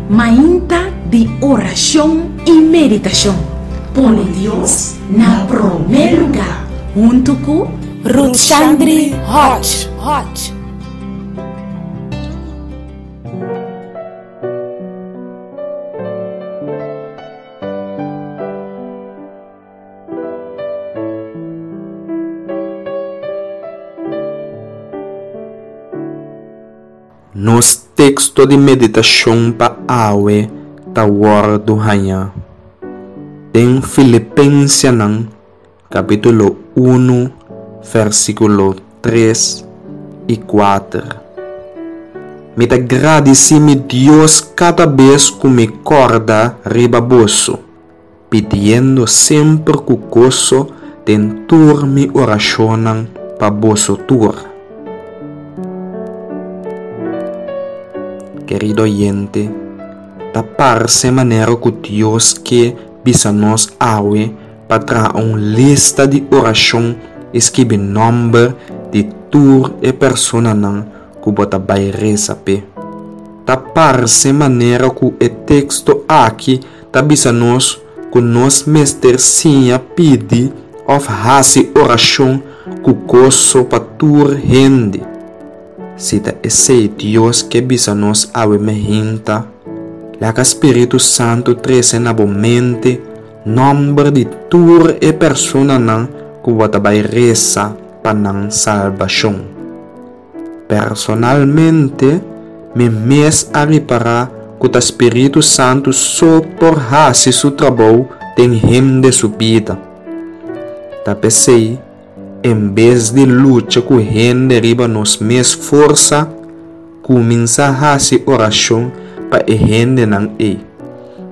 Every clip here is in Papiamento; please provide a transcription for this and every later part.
Mainta di orashon i meditashon, pone Dios na promé lugá, huntu ku Ruthshandri Hodge. Nos teksto di meditashon pa awe ta wòrdu hañá den Filipensenan kapítulo unu vèrsikulo tres i kuater. Mi ta gradisí mi Dios kada bes ku mi kòrda riba boso, pidiendo semper cu goso den tur mi oracionnan pa boso tur. Kerido oyente, ta parce manera cu Dios ke bisa nos awe pa traha un lista di oracion y skibi nomber di tur e personanan cu bo ta bay reza p'e. Ta parce manera cu e texto aki ta bisa nos ku nos mester siña pidi òf hasi orashon ku goso pa tur hende. Si ta esei Dios ke bisa nos awe mihinta, laga spiritu santu trese na bo mente nòmber di tur e personanan ku bo ta bai resa pa nan salbashon. Personalmente, mi mes a ripará ku ta spiritu santu so por hasi su trabou den hende su bida. Ta p'esei, en bes di lucha ku hende riba nos mes forsa, kuminsá hasi orashon pa e hendenan ei.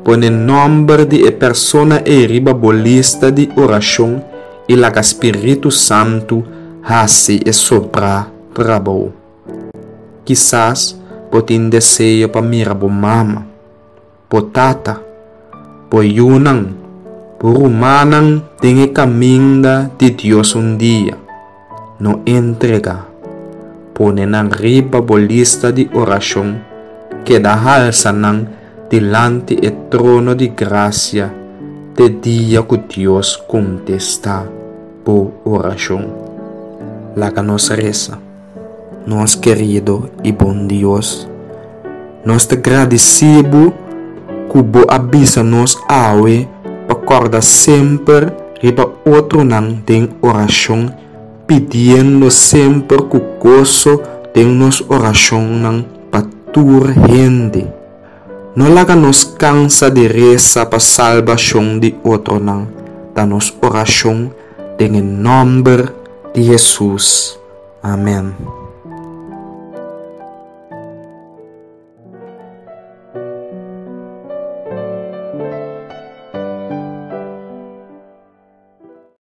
Pone nòmber di e persona ei riba bo lista di orashon. i laga spiritu santu hasi e sobrá tra bo. Kisas bo tin deseo pa mira bo mama, bo tata, bo yunan, bo rumannan den e kaminda di Dios un dia. No entregá. Pone nan riba bo lista di orashon, keda halsa nan. dilanti e trono di grasia te dia ku Dios kontestá bo orashon. Laga nos resa. Nos kerido i bon Dios, nos ta gradisí bo ku bo a bisa nos awe pa kòrda semper riba otronan den orashon, pidiendo semper ku goso den nos orashonnan. pa tur hende. No laga nos kansa di resa pa salbashon di otronan, ta nos orashon den e nòmber di Hesus. Amèn.